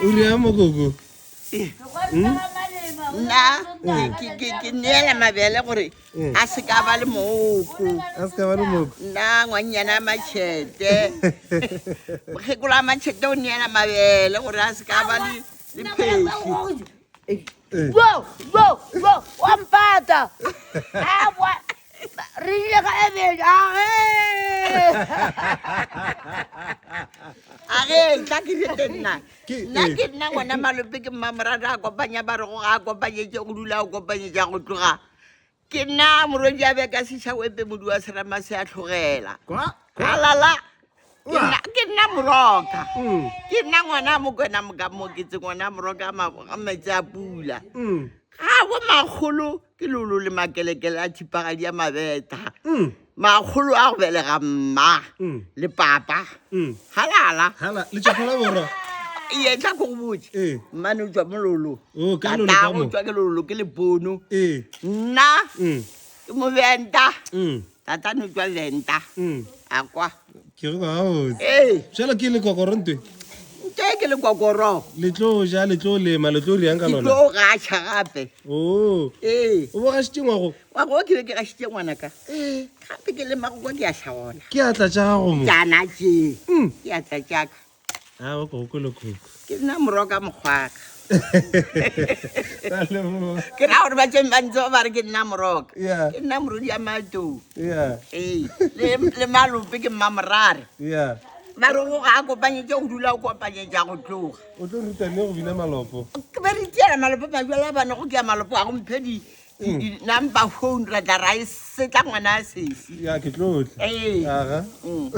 o rea mogogo nna ke- ke ke neela mabele gore Mm. a se ka ba le mooko a se ka ba le mooko nna ngwannyana a matšhete mokgekolo a matšhete o neela mabele gore a se ka ba le le phesi Yo, yo, yo, wampata. Awa. re ile ga ebeja age age tla ke rete nna nna ke nna ngwana malope ke mmamorata a kopanya ba re go ga a kopanyetse go dula a kopanyetsa go tloga ke nna morodi a beka sesha wepe modi wa serama se a tlhogela alala ke nna moroka mm. ke nna ngwana mokwena mokamoketse ngwana moroka a metsi a pula mm. ga bo magolo ke lolo le makelekele a thipagadi ya mabeta mm. makgolo a go belega mma mm. le papa mm. halala ee tla ko go botse ee. mmane o tswa mo lolo oh, tatago tswa ke lolo ke lepono ee. nna ke mobenta Tata no tšwa venta mm. a kwa ke go gaotse ee. jalo ke le kokoro ntwe ntwe ke le kokoro le tlo ja le tlo lema le tlo riang ka lona ke tlo gacha gape o oh. ee o bo gashitse ngwago wa go ke ke gashitse ngwana ka ee gape ke lema go kwa ke ya hlagola ke atla tša gago mo jana tše mm. ke atla tša ka a ah, o ko ko lokhukhu ke nna moroka mokgwaka ke na gore ba tseng ba ntse ba re ke nna moroka ke nna morodi ya matou ee le malope ke mma morare ba re go ga a kopanyetse go dula o kopanyetsa go tloga o tlo ruta ne go bina malopo ke ba re tiela malopo majala ba ne go ke ya malopo a go mphe di mm. number phone ra tla ra e setla ngwana a sesi ya ke tlotle ee mm.